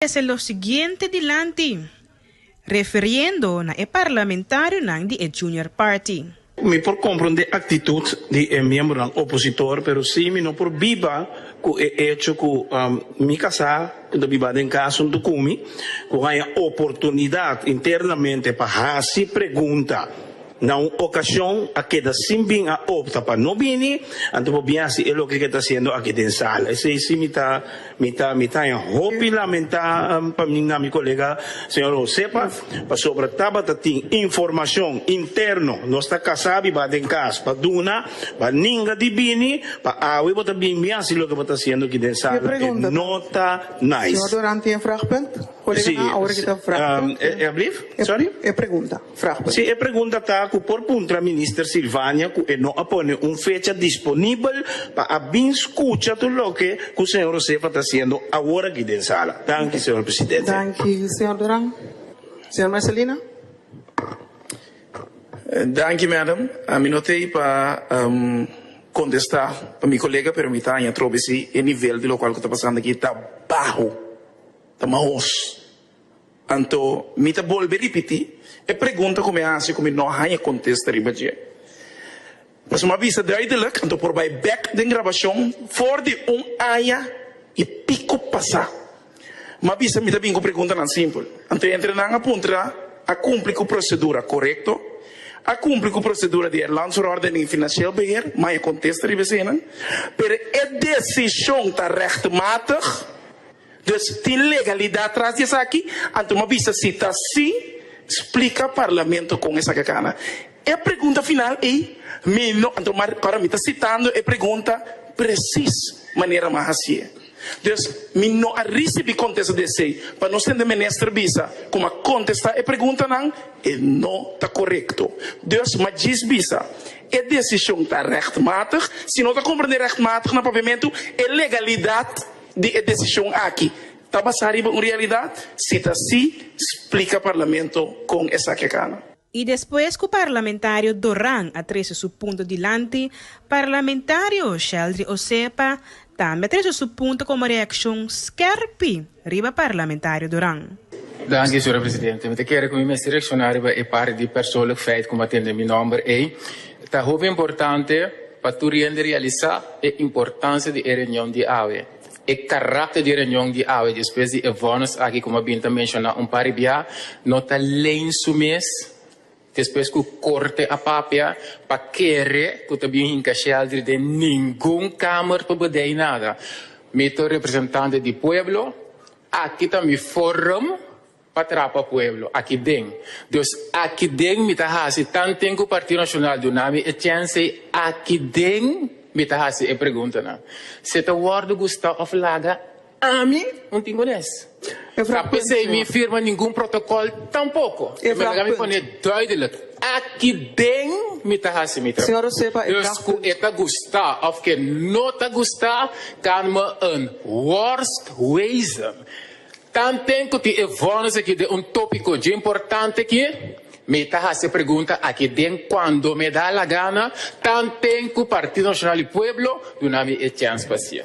Esei lo siguiente dilanti, referiendo na e parlamentarionan di e Junior Party. Mi por comprende e actitud di e miembronan opositor, pero si mi no por biba cu e hecho cu mi casa cu ta biba den Cas Suntucumi, cu haña oportunidad internamente pa haci pregunta, Na un ocasion a keda sin bin a opta pa no bini, anto bo bien haci e loke ke ta haciendo aki den sala. Esey si mi ta mi ta mi ta en hopi lamenta pa mi na mi colega señor Josepa, pasobra tabata tin informacion interno nos ta casa bi ba den cas pa duna pa ninga di bini pa awe bo ta bin bien haci loke bo ta haciendo aki den sala e no ta nice. Señor Doran tin e vraagpunt? Colega nan awor ki ta vraagpunt. E alblief? Sorry? E pregunta. Fragment. Si e pregunta ta cu por puntra Minister Sylvania cu e no a pone un fecha disponibel pa a bin scucha tur loke cu Señor Josefa ta haciendo awor aki den sala. Danki, Señor Presidente. Danki, Señor Duran. Señor Mercelina. Danki, Madam. Ami no ta ei pa contesta pa mi colega, pero mi ta haña trobe si e nivel di locual cu ta pasando aki ta baho, ta mahos. Anto mi ta bolbe ripití e pregunta ku mi a hasi ku mi no a haña kontesta riba dje. Pasobra mi a bisa duidelik, anto por bai bèk den grabashon for di un aña i piko pasá. Mi a bisa mi ta bin ku preguntanan simpel. Anto entrenan a puntra, A kumpli ku prosedura korekto? A kumpli ku prosedura di e Land Verordening di Finansieel Beheer? Mi a haña kontesta riba esenan. Pero e desishon ta rechtmatig? Des tin legalidat tras di esaki? Anto m'a bisa si ta si, splika Parlamento kon esaki a kana e pregunta final ei. Mi no, anto m'a ora mi ta sitando e pregunta presis manera m'a hasié. Des mi no a risibi kontesta di esei. Pa nos hende minister bisa ku m'a kontestá e preguntanan e no ta korekto. Dus m'a djis bisa e desishon ta rechtmatig. Si no ta komprendé rechtmatig na papiamentu e legalidat. di e desishon aki ta basá riba un realidat? Si ta sí, splika Parlamento kon esaki a kaba. I despues ku parlamentario Doran a trese su punto dilanti, parlamentario Sheldry Osepa tambe a trese su punto komo reakshon skèrpi riba parlamentario Doran. Danki, Sra. Presidente. Mi ta kere ku mi mester reakshoná riba e par di persoonlijk feit ku mi a tende mi nòmber ei. Ta hopi importante pa tur hende realisa e importansia di e reunion di awe, e karakter di e reunion di awe despues di e vonnis aki como a bin ta menciona un par di bia, no ta leen su mes despues cu Corte a papia pa kere cu ta bin hinca shel diri den ningun kamer pa bdey nada. Mi ta un representante di pueblo, aki ta mi forum. pa trapa pueblo aki den. Dus aki den mi ta hasi tan tin cu Partido Nacional duna mi e chensey aki den mi ta hasi e preguntanan. Si ta wordo gusta of laga ami un Timones. Ta p'esey mi firma ningun protocol tampoco. Mi mester ami pone duidelijk aki den mi ta hasi mi trabao. Dus cu e ta gusta of cu e no ta gusta can me un worstwezen. Tanten cu tin e vonus aki den un topico dje importante aki, mi ta haci e pregunta aki den cuando me da la gana, tanten cu Partido Nacional di Pueblo duna mi e chance pa haci.